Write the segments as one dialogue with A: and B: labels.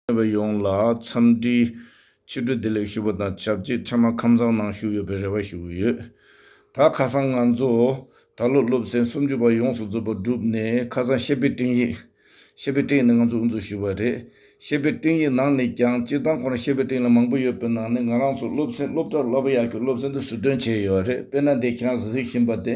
A: ནུས་པ་ཡོངས་ལ་འཚམས་འདྲི། ཕྱི་དྲོ་བདེ་ལེགས་ཞུ་བ་དང་ཆབས་ཅིག་འཕྲལ་མར་ཁམས་ཚང་ནང་ཞུགས་ཡོད་པའི་རེ་བ་ཞུ་གི་ཡོད། ད་ཁ་སང་ང་ཚོ་ད་ལོ་སློབ་ཚན་སུམ་ཅུ་པ་ཡོངས་སུ་རྫོགས་པ་བསྒྲུབས་ནས་ཁ་སང་ཤེས་དཔེ་སྤྲིངས་ཡིག། ཤེས་དཔེ་སྤྲིངས་ནས་ང་ཚོ་དབུ་འཛུགས་ཞུས་པ་རེད། ཤེས་པའི་སྤྲིན་ཡི་ནང་ནས་ཀྱང་སྤྱིར་བཏང་ཁོ་རང་ཤེས་པའི་སྤྲིན་ལ་མང་པོ་ཡོད་པའི་ནང་ནས་ང་རང་ཚོ་སློབ་ཚན་སློབ་གྲྭར་སློབ་ཡག་གི་སློབ་ཚན་དུ་ཟུར་འདོན་བྱས་ཡོད་རེད་དཔེར་ན་འདས་ཁྱེད་རང་གཟིགས་བཞིན་པ་དེ་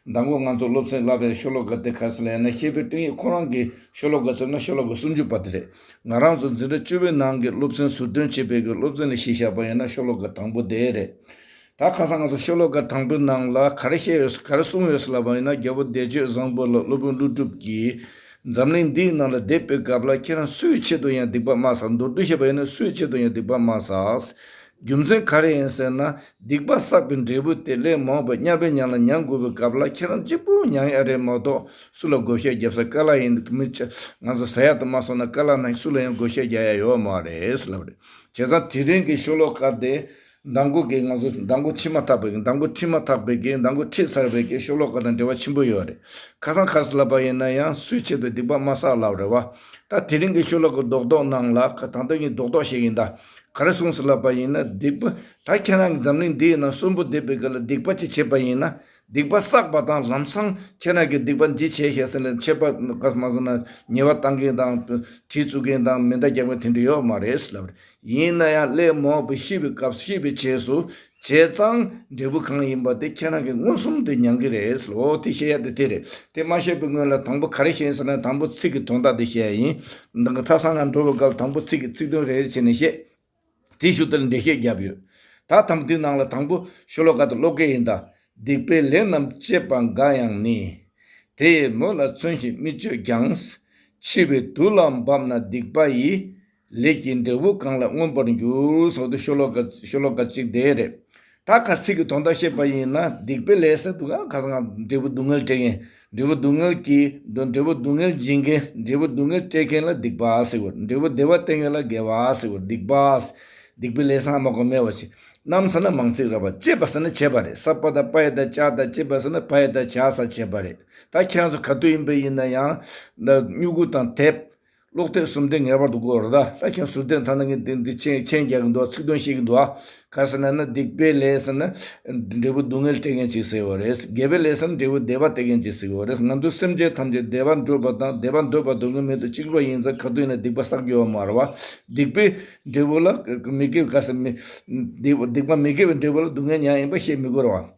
A: ཟླ་མགོ་ང་ཚོ་སློབ་ཚན་བསླབ་པའི་ཤོ་ལོ་ཀ་དེ་ཁ་སང་ལ་ཡང་ན་ཤེས་པའི་སྤྲིན་ཡི་ཁོ་རང་གི་ཤོ་ལོ་ཀ་ཟེར་ན་ཤོ་ལོ་ཀ་སུམ་ཅུ་པ་དེ་རེད་ང་རང་ཚོ་འཛིན་གྲྭ་བཅུ་བའི་ནང་གི་སློབ་ཚན་ཟུར་འདོན་བྱས་པའི་གི་སློབ་ཚན་ལ་གཞི་བཞག་པ་ཡིན་ན་ཤོ་ལོ་ཀ་དང་པོ་དེ་རེད། ད་ཁ་སང་ང་ཚོ་ཤོ་ལོ་ཀ་དང་པོའི་ནང་ལ་ག་རེ་བཤད་ཡོད་ག་རེ་གསུངས་ཡོད་ལབ་པ་ཡིན་ན་རྒྱལ་པོ་བདེ་སྤྱོད་བཟང་པོ་ལགས་སློབ་དཔོན་ཀླུ་སྒྲུབ་ཀྱིས་འཛམ་གླིང་འདིའི་ནང་ལ་དེབ་སྤེལ་སྐབས་ལ་ཁྱེད་རང་སུའི་ཆེད་དུ་ཡང་སྡིག་པ་སྨྲ་ཟ་མདོར་བསྡུས་བཤད་པ་ཡིན་ན་སུའི་ཆེད་དུ་ཡང་སྡིག་པ་སྨྲ་ཟ། རྒྱུ་མཚན་ག་རེ་ཡིན་ཟེར་ན་སྡིག་པ་བསགས་པའི་འབྲས་བུ་དེ་ལས་མང་བས་དམྱལ་བའི་གཉའ་ལ་མྱང་དགོས་པའི་སྐབས་ལ་ཁྱེད་རང་གཅིག་པུ་མྱང་ཡག་རེད་མ་གཏོགས་སུ་ལ་བགོ་བཤའ་རྒྱབ་ས་ག་ལ་ཡིན་མི་ཆ་ང་ཚོ་ཟ་ཡག་ཏུ་མ་སོང་ན་ག་ལ་ན་སུ་ལ་ཡང་བགོ་བཤའ་རྒྱག་ཡག་ཡོད་མ་རེད་ལབ་རེད་བྱས་ཙང་དེ་རིང་གི་ཤོ་ལོ་ཀ་དེ། མདང་དགོང་གི་ང་ཚོ་མདང་དགོང་ཁྲིད་མ་ཐག་པའི་མདང་དགོང་ཁྲིད་མ་ཐག་པའི་གི་མདང་དགོང་ཁྲིད་ཚར་བའི་གི་ཤོ་ལོ་ཀ་དང་འབྲེལ་བ་ཆེན་པོ་ཡོད་རེད། ཁ་སང་ཁ་སི་ལ་པ་ཡིན་ན་ཡང་སུའི་ཆེད་དུ་སྡིག་པ་མ་བསགས་ལབ་རེད་བ། ད་དེ་རིང་གི་ཤོ་ལོ་ཀ་རྡོག་རྡོག་གནང་ལ་ད་ལྟ་གཉིས་རྡོག་རྡོག་བཤད་ཀྱིན་ད་ག་རེ་གསུངས་སི་ལ་པ་ཡིན་ན་སྡིག་པ་ད་ཁྱེད་རང་གི་འཛམ་གླིང་འདིའི་ནང་གསོན་པོ་བསྡད་པའི་གི་ལ་སྡིག་པ་ཅིག་བྱས་པ་ཡིན་ན་སྡིག་པ་བསགས་པ་དང་ལམ་སང་ཁྱེད་རང་གིས་སྡིག་པ་འདི་བྱས་ཞེས་ཟེར་ནས་ཆད་པ་བསགས་མ་སོང་ན་ཉེས་བ་བཏང་མཁན་དང། གྲི་བཙུགས་མཁན་དང་མེ་མདའ་རྒྱག་མཁན་དེ་འདྲ་ཡོད་མ་རེད་ལབ། ཡིན་ན་ཡང་སླད་མོག་པོ་ཤི་བའི་སྐབས་ཤི་བའི་རྗེས་སུ་བྱས་ཙང་འབྲས་བུ་གང་ཡིན་པ་དེ་ཁྱེད་རང་གིས་མངོན་སུམ་དུ་མྱང་གི་རེད་ལོ་དེ་བཤད་ཡ་དེ་དེ་རེད་དེ་མ་བཤད་པའི་སྔོན་ལ་དང་པོ་ག་རེ་བཤད་ཟེར་ན་དང་པོ་ཚིག་གི་དོན་དག་དེ་བཤད་ཡིན། མཐའ་སང་ང་འགྲོ་བའི་སྐབས་དང་པོ་ཚིག་གི་ཚིག་དོན་རེ་རེ་བྱས་ནས་བཤད། དེའི་ཞུ་དལ་འགྲེལ་བཤད་བརྒྱབ་ཡོད། ད་དམ་དུས་ནང་ལ་དང་པོ་ཤོ་ལོ་ཀ་དུ་ཀློག་གི་ཡིན་ད། སྡིག་པའི་ལས་རྣམས་སྤྱད་པ་འགའ་ཡང་ནི། དེ་ཡི་མོད་ལ་མཚོན་བཞིན་མི་སྤྱོད་ཀྱང། འཆི་བའི་དུས་ལ་འབབ་ན་སྡིག་པ་ཡི། ལས་ཀྱི་འབྲས་བུ་གང་ལ་མངོན་པར་འགྱུར། སོགས་དུས་ཤོ་ལོ་ཀ་གཅིག་དེ་རེད། ད་ག་ཚིག་གི་དོན་དག་བཤད་པ་ཡིན་ན་སྡིག་པའི་ལས་སེལ་དུ་གང་ག་ས་གང་འབྲས་བུ་སྡུག་བསྔལ་སྤྲད་མཁན་འབྲས་བུ་སྡུག་བསྔལ་གྱིས་འབྲས་བུ་སྡུག་བསྔལ་སྦྱིན་མཁན་འབྲས་བུ་སྡུག་བསྔལ་སྤྲད་མཁན་ལ་སྡིག་པ་ཟེར་བར་འབྲས་བུ་བདེ་བ་སྟེར་མཁན་ལ་དགེ་བ་ཟེར་བར་སྡིག་པ། སྡིག་པའི་ལས་བསམ་མ་གོ་སྨྲས་བ་ཅི། རྣམས་ཟེར་ན་མང་ཚིག་ར་བ་ཅེས་པ་ཟེར་ན་བྱས་པ་རེད་ས་པ་དང་པ་ཡི་དང་ཅག་དང་ཅེས་པ་ཟེར་ན་བ་ཡི་དང་བྱ་ས་བྱས་པ་རེད་ད་ཁྱེད་རང་ཚོ་ག་དུས་ཡིན་པ་ཡིན་ན་ཡང་སྨྱུ་གུ་དང་དེབ། ཀློག་ཐེངས་གསུམ་དེ་ངེས་པར་དུ་དགོས་རེད་ད་ས་ཁྱོད་ཟུར་བསྟན་ཐ་ན་ངས་དེ་འདི་མཆན་མཆན་རྒྱག་གི་འདུག་ཚིག་དོན་ཤེས་ཀྱི་འདུག་ཨ། ག་ཟེར་ན་ན་སྡིག་པའི་ལས་ཟེར་ན། འབྲས་བུ་སྡུག་བསྔལ་སྤྲད་མཁན་གཅིག་ཟེར་བ་རེད། དགེ་བའི་ལས་ཟེར་ན་འབྲས་བུ་བདེ་བ་སྟེར་མཁན་གཅིག་ཟེར་བ་རེད། ང་ཚོའི་སེམས་ཅན་ཐམས་ཅད་བདེ་བར་འདོད་པ་དང་བདེ་བར་འདོད་པ་འདོད་མཁན་མེད་དུ་གཅིག་པུ་ཡིན་ཙང་ག་དུས་ནས་སྡིག་པ་བསགས་ཡོད་མ་རེད་བ། སྡིག་པའི་འབྲས་བུ་ལ་མི་དགེ་བའི་ག་ཟེར། སྡིག་པ་མི་དགེ་བའི་འབྲས་བུ་ལ་སྡུག་བསྔལ་མྱངས་ཡིན་པ་བཤད་མི་དགོས་རེད་བ།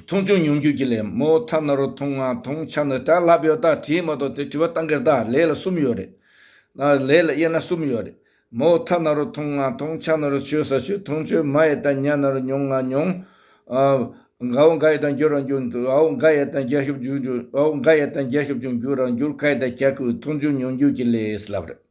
A: མཐོང་ཆུང་མྱོང་རྒྱུ་གྱི་ལས་མོ་ཐ་ན་རུ་མཐོང་ང་མཐོང་ཆ་ནི་དགྲ་ལྷ་བེའུ་དག་བྲིས་མ་གཏོགས་ཚེ་བྲི་བ་ཏང་གི་རྟགས་ལས་ལ་གསུམ་ཡོད་རེད། ལས་ལ་དབྱེ་ན་གསུམ་ཡོད་རེད་མོ། ཐ་ན་རུ་མཐོང་ང་མཐོང་ཆ་ནི་རུ་ཆོས་ས་ཆོས་མཐོང་ཆོས་མ་ཡེ་ད་མྱ་ན་རུ་མྱོང་ང་མྱོང། འགའ་བོ་འགའ་ཡེ་དང་འགྱུར་རང་འགྱུར་འདུག་འོ་འགའ་ཡེ་དང་རྒྱ་ཤོབ་འགྱུར་འགྱུར་འོ་འགའ་ཡེ་དང་རྒྱ་ཤོབ་ཅུང་འགྱུར་རང་འགྱུར་ཁ་ཡེ་ད་གྱ་ཁུ་མཐོང་ཆུང་མྱོང་རྒྱུ་གྱི་ལས་ལབ་རེད།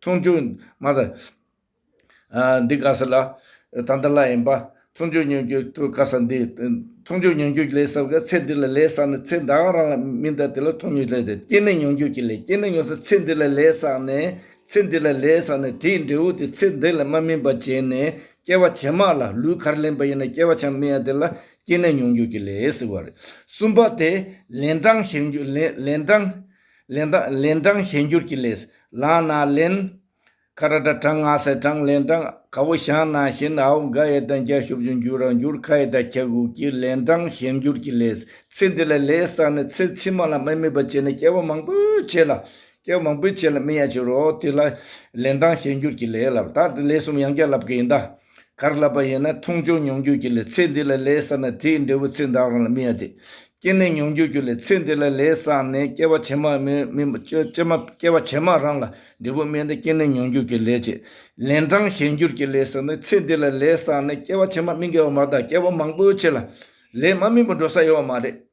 A: མཐོང་ཆོས། མ་དང། འདི་དགའ་ས་ལ། ད་འདི་ལ་ཡིན་པ། མཐོང་ཆོས་ཉོན་རྒྱུ་དུ་དགའ་ས་འདི། མཐོང་ཆོས་ཉོན་རྒྱུ་ལས་ཟབ་དགའ་ཚེ་འདི་ལ་ལས་བསགས་ནས་ཚེ་འདའང་རང་ལ་མི་འདའ་དེ་ལ་མཐོང་ཉོན་ལས་ཟབ་སྐྱེ་གནས་ཉོན་རྒྱུ་གྱི་ལས་སྐྱེ་གནས་ཉོན་ས་ཚེ་འདི་ལ་ལས་བསགས་ནས་ཚེ་འདི་ལ་ལས་བསགས་ནས་དེའི་འབྲས་བུ་དེ་ཚེ་འདི་ལ་མ་སྨིན་པ་བྱས་ནས་སྐྱེ་བ་ཇེ་མང་ལ་ལུས་གར་ལེན་པ་ཡིན་ན་སྐྱེ་བ་ཆ་མི་ཡ་དེ་ལ་སྐྱེ་གནས་ཉོན་རྒྱུ་གྱི་ལས་ཟེར་བ་རེད། གསུམ་པ་དེ་ལན་གྲངས་བཤད་རྒྱུ་ལན་གྲངས། ལན་གྲངས་གཞན་འགྱུར་གྱི་ལས། ལངས་ན་ལན། ཁ་ར་ཏྲ་གྲངས་ངག་སེར་གྲངས་ལན་གྲངས་ཁ་བོ་ཞང་ན་བཞིན་ཨའོ་འགའ་ཡེ་དང་རྒྱ་ཤུབ་བཞིན་འགྱུར་ར་འགྱུར་ཁ་ཡེ་དང་ཁྱ་གུག་གི་ལན་གྲངས་གཞན་འགྱུར་གྱི་ལས། ཚེ་འདི་ལ་ལས་བསགས་ནས་ཚེ་ཕྱི་མ་ལ་མི་དམིགས་པར་བྱས་ནས་སྐྱེ་བ་མང་པོས་བྱས་ལ། སྐྱེ་བ་མང་པོས་བྱས་ལ་མི་ཡང་བྱེད་རོ། དེ་ལ་ལན་གྲངས་གཞན་འགྱུར་གྱི་ལས་ལ། ད་ལས་གསུམ་ཡང་བརྒྱ་ལབ་ཀྱི་ཡིན་ད། གར་བསླབ་པ་ཡིན་ན་མཐོང་ཆུང་མྱོང་རྒྱུ་གྱི་ལས་ཚེ་འདི་ལ་ལས་བསགས་ན་དེའི་འབྲས་བུ་ཚེ་འདའ་རང་ལ་མི་ཡ་དེ་སྐྱེ་གནས་མྱོང་རྒྱུ་གྱི་ལས་ཚེ་འདི་ལ་ལས་བསགས་ནས་སྐྱེ་བ་ཇེ་མང་མི་མི་སྐྱེ་མ་སྐྱེ་བ་ཇེ་མང་རང་ལ་འབྲས་བུ་སྨིན་ཏེ་སྐྱེ་གནས་མྱོང་རྒྱུ་གྱི་ལས་ཀྱི་ལན་གྲངས་གཞན་འགྱུར་གྱི་ལས་བསགས་ནས་ཚེ་འདི་ལ་ལས་བསགས་ནས་སྐྱེ་བ་ཇེ་མང་མི་འགལ་བ་མ་དག་སྐྱེ་བ་མང་པོའི་ཆེད་ལ་ལས་མ་སྨིན་པར་འགྲོ་ས་ཡོད་བ་མ་རེད།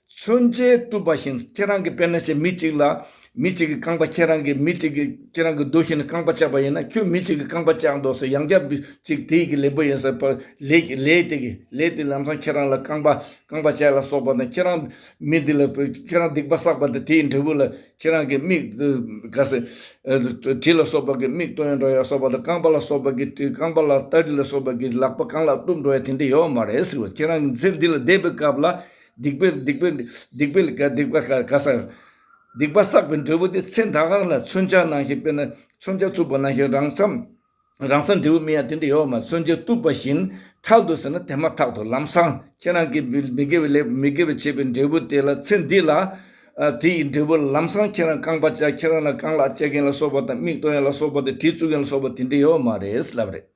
A: མཚོན་ཆའི་རྟུལ་བ་བཞིན་ཁྱེད་རང་གི་དཔེར་ན་བྱས་མི་གཅིག་ལ་མི་གཅིག་གིས་རྐང་པ་ཁྱེད་རང་གིས་མི་གཅིག་གིས་ཁྱེད་རང་གི་རྡོ་བཞིན་རྐང་པ་བཅག་པ་ཡིན་ན་ཁྱོད་མི་གཅིག་གིས་རྐང་པ་བཅག་འདོགས་སོ་ཡང་བསྐྱར་མི་གཅིག་དེ་ཡི་གི་ལེགས་པོ་ཡིན་ཟེར་བར་ལས་ཀྱི་ལས་དེ་གི་ལས་དེ་ལམ་སང་ཁྱེད་རང་ལ་རྐང་པ་རྐང་པ་བཅག་ལ་སོགས་པ་དང་ཁྱེད་རང་མི་འདི་ལ་ཁྱེད་རང་སྡིག་པ་བསགས་པ་དང་དེ་ཡི་འབྲས་བུ་ལ་ཁྱེད་རང་གིས་མིག་ག་ཟེ་གྲི་ལ་སོགས་པ་གིས་མིག་གཏོང་ཡང་འགྲོ་ཡང་སོགས་པ་དང་རྐང་པ་ལ་སོགས་པ་གིས་གྲི་རྐང་པ་ལ་སྟ་གྲི་ལ་སོགས་པ་གིས་ལག་པ་གང་ལ་གཏུབ་འགྲོ་ཡང་དེ་འདྲ་ཡོད་མ་རེད་ཟེར་བར་ཁྱེད་རང་གིས་ཚེ་འདི་ལ་བསྡད་པའི་སྐབས་ལ། སྡིག་པའི་སྡིག་པའི་སྡིག་པའི་ལས་སྡིག་པ་ག་ག་ཟག། སྡིག་པ་བསགས་པའི་འབྲས་བུ་དེ་ཚེ་འདའ་ཁང་ལ་མཚོན་ཆ་ནང་བཞིན་དཔེར་ན་མཚོན་ཆ་བཙུགས་པ་ནང་བཞིན་རང་ས་རང་སར་འབྲས་བུ་མི་ཡང་དེ་འདྲ་ཡོད་མ་མཚོན་ཆ་བཙུགས་པ་བཞིན་ཁྲག་འདུག་ཟེར་ན་དེ་མ་ཐག་ཏུ་ལམ་སང་ཁྱེད་རང་གིས་མི་མི་དགེ་བའི་ལས་མི་དགེ་བའི་བྱས་པའི་འབྲས་བུ་དེ་ལ་ཚེ་འདི་ལ། དེ་ཡི་འབྲས་བུ་ལམ་སང་ཁྱེད་རང་རྐང་པ་བཅག་ཁྱེད་རང་ལ་རྐང་ལག་བཅད་མཁན་ལ་སོགས་པ་དང་མིག་གཏོང་ཡ་ལ་སོགས་པ་དང་དྲི་བཙུགས་མཁན་ལ་སོགས་པ་དེ་འདྲ་ཡོད་མ་རེད་ལབ་རེད།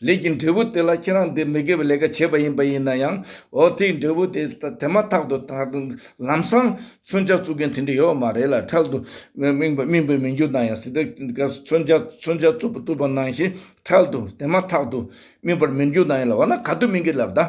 A: ལས་ཀྱི་འབྲས་བུ་དེ་ལ་ཁྱེད་རང་འདིར་མི་དགེ་བའི་ལས་ཀ་བྱས་པ་ཡིན་པ་ཡིན་ན་ཡང། འོ་དེའི་འབྲས་བུ་དེ་དེ་མ་ཐག་ཏུ་དག་ཏུ་ལམ་སང་མཚོན་ཆ་བཙུགས་མཁན་དེ་འདྲ་ཡོད་མ་རེད་ལ་འཕྲལ་དུ་རྨིང་པ་རྨིང་པའི་མི་འགྱུར་ན་ཡང་སྲིད་དེ་ག་མཚོན་ཆ་མཚོན་ཆ་བཙུགས་པ་བཙུགས་པ་ནང་བཞིན་འཕྲལ་དུ་དེ་མ་ཐག་ཏུ་རྨིང་པར་མི་འགྱུར་ན་ཡང་ལ་འོ་ན་ག་དུས་རྨིང་གི་ལབ་ད།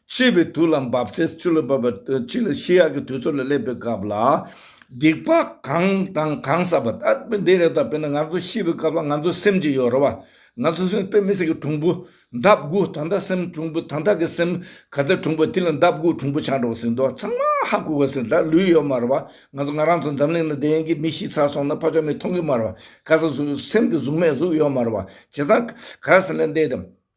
A: འཆི་བའི་དུས་ལ་འབབ་ཚེ་སྤྱི་ལ་བབ་པ་གཅིག་ལ་ཤི་ཡག་གི་དུས་ཚོད་ལ་སླེབས་པའི་སྐབས་ལ། སྡིག་པ་གང་དང་གང་བསགས་པ་དག་པས་འདི་རེ་ད་བས་ན་ང་ཚོ་ཤི་བའི་སྐབས་ལ་ང་ཚོའི་སེམས་ཀྱི་ཡོ་རོ་བ། ང་ཚོ་སེམས་དཔའི་མི་སེར་གྱི་གྲུང་པོ། འདབ་དགུ་དང་དག་སེམས་གྲུང་པོ་དང་དག་གི་སེམས་ག་ཚད་གྲུང་པོ་དེ་ལ་འདབ་དགུ་གྲུང་པོ་ཆགས་འགྲོ་བ་ཟིན་ཏོ་ཚང་མ་ཧ་གོ་གོ་ཟིན་ད་ལུས་ཡོད་མ་རེད་བ་ང་ཚོ་ང་རང་ཚོ་འཛམ་གླིང་ན་བདེན་གི་མི་ཤི་ཚར་སོང་ན་ཕ་ཆོག་མི་མཐོང་གི་མ་རེད་བ་ག་ས་སུ་སེམས་ཀྱི་གཟུགས་མེད་གཟུགས་ཡོད་མ་རེད་བ་བྱས་ཙང་ག་ར་ཟིན་ལ་འདས་དེ་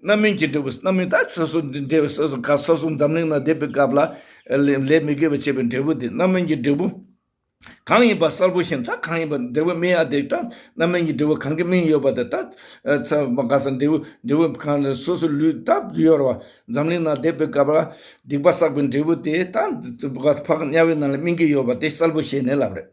A: རྣམ་སྨིན་གྱིས་འབྲེལ་བའི་རྣམ་སྨིན་དང་སོ་སོར་འབྲེལ་བའི་སོ་སོ་ཀ་ས་གསུམ་འཛམ་གླིང་ན་བསྡད་པའི་སྐབས་ལ་ལས་མི་དགེ་བ་བྱས་པའི་འབྲས་བུ་དེ་རྣམ་སྨིན་གྱི་འབྲས་བུ་གང་ཡིན་པ་གསལ་པོ་ཤེས་ན་ད་གང་ཡིན་པ་འབྲས་བུ་སྨིན་ཡ་དེ་ལྟར་རྣམ་སྨིན་གྱི་འབྲས་བུ་གང་གིས་སྨིན་ཡོད་པ་དེ་ལྟར་ཚ་བ་ཀ་ས་འབྲས་བུ་འབྲས་བུ་གང་ལ་སོ་སོའི་ལུས་ལྟ་བུ་ཡོད་རེ་བ་འཛམ་གླིང་ན་བསྡད་པའི་སྐབས་ལ་སྡིག་པ་བསགས་པའི་འབྲས་བུ་དེ་ལྟར་ཕག་དམྱལ་བའི་ནང་ལ་སྨིན་གྱི་ཡོད་པ་དེ་གསལ་པོ་ཤེས་ནས་ལབ་རེད།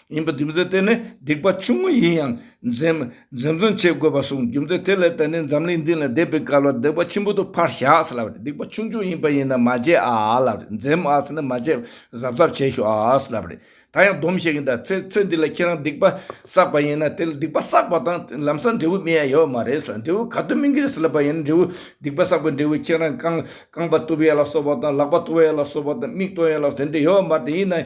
A: ཡིན་པ་རྒྱུ་མཚན་དེ་ནི་སྡིག་པ་ཆུང་ངུ་ཡིན་ཡང་འཛེམ་ཟོན་བྱེད་དགོས་པ་སོང་རྒྱུ་མཚན་དེ་ལས་ད་ནི་འཛམ་གླིང་འདི་ལ་བདེ་བའི་སྐལ་བ་སྡིག་པ་ཆེན་པོ་དུ་ཕར་བཞག་ལབ་རེད་སྡིག་པ་ཆུང་ཆུང་ཡིན་པ་ཡིན་ན་མ་བྱེད་ཨ་ལབ་རེད་འཛེམ་ཨ་ནི་མ་བྱེད་གཟབ་གཟབ་བྱེད་ཤོག་ཨ་ལབ་རེད་ད་ཡང་སྡོམ་བྱེད་ཀྱི་འདྲ་ཚེ་ཚེ་འདི་ལ་ཁྱེད་རང་སྡིག་པ་བསགས་པ་ཡིན་ན་དེ་ལ་སྡིག་པ་བསགས་པ་དང་ལམ་སང་འབྲས་བུ་སྨིན་ཡ་ཡོད་པ་མ་རེད་ལ་འབྲས་བུ་ག་དུས་སྨིན་གྱི་རེད་ལབ་པ་ཡིན་ན་འབྲས་བུ་སྡིག་པ་བསགས་པའི་འབྲས་བུ་ཁྱེད་རང་རྐང་པ་གཏུབ་ཡ་ལ་སོགས་པ་དང་ལག་པ་གཏོར་ཡ་ལ་སོགས་པ་དང་མིག་གཏོང་ཡ་ལ་དེ་འདྲ་ཡོད་པ་མ་རེད་དེ་ཡིན་ན་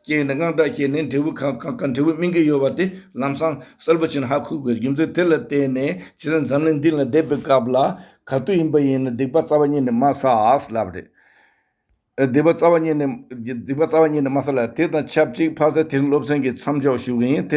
A: རྐྱེན་ནི་དངངས་སྐྲག་སྐྱེས་ནས་འབྲས་བུ་གང་གང་གི་འབྲས་བུ་སྨིན་གྱི་ཡོད་པ་དེ་ལམ་སང་གསལ་པོ་བྱེད་ན་ཧ་གོ་དགོས་རྒྱུ་མཚན་དེ་ལ་བརྟེན་ནས་ཁྱེད་རང་འཛམ་གླིང་འདི་ལ་བསྡད་པའི་སྐབས་ལ་ག་དུས་ཡིན་པ་ཡིན་ན་སྡིག་པ་རྩ་བ་ཉིད་ནས་མ་བསགས་ལབ་རེད། སྡིག་པ་རྩ་བ་ཉིད་ནས་མ་བསགས་ལབ་དེ་དང་ཆབས་ཅིག་ཕ་ས་དེ་རིང་སློབ་ཚན་གྱི་མཚམས་འཇོག་ཞུ་གི་ཡིན་དེ་ནི།